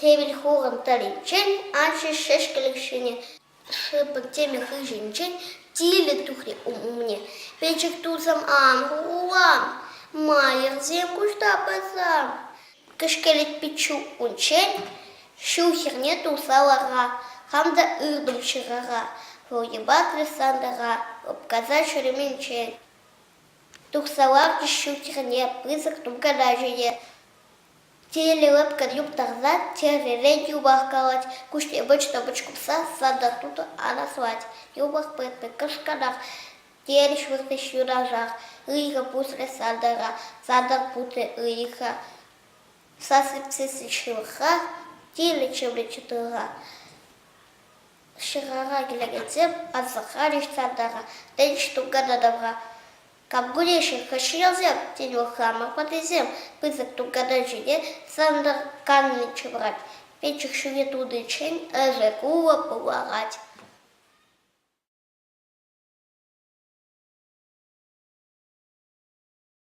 Кевин хулӑн тӑрринчен анчӗ шӗшкӗлӗк ҫине шӑпӑк тӗмӗ хыҫӗнчен тилӗ тухрӗ умне. Пӗчӗк тусӑм, ан кулан, майӑрсем куҫта пӑсан, кӗшкелет пиччӳ унччен ҫу хӗрне тухса лара, хам та ывтӑм ҫӑкӑра, вӑл йӑпатрӗ сантӑра лӑпкаса ҫӳременчен. Тухса ларчӗ ҫу хӗрне пысӑк тум калаҫу те. Тилӗ лӑпкӑн юптарса чӗререн юпах калать, куҫне вӑчнӑ-вӑч курса сада-суда анаслать. Юпах пӗр-пӗр кӑшкӑрах, терӗҫ выртӑҫ юнашар. Ыйхӑ пусрӗ садара, сада путрӗ ыйхӑ. Сасӑпсессӗн ҫывӑхра тилӗ чӑмри чӑтӑра. Ҫӑкӑра килекенсем асӑрхарӗҫ садара, тӗнч тунката тавра. Кабгулеҫҫӗ каҫреллех, тен, Вӑхрамов ватӑсем пысӑк туканан ҫине сӑнтӑрканни ҫывӑрать, печӗк ҫуне тунинчен ырӑ кулӑ пуларать.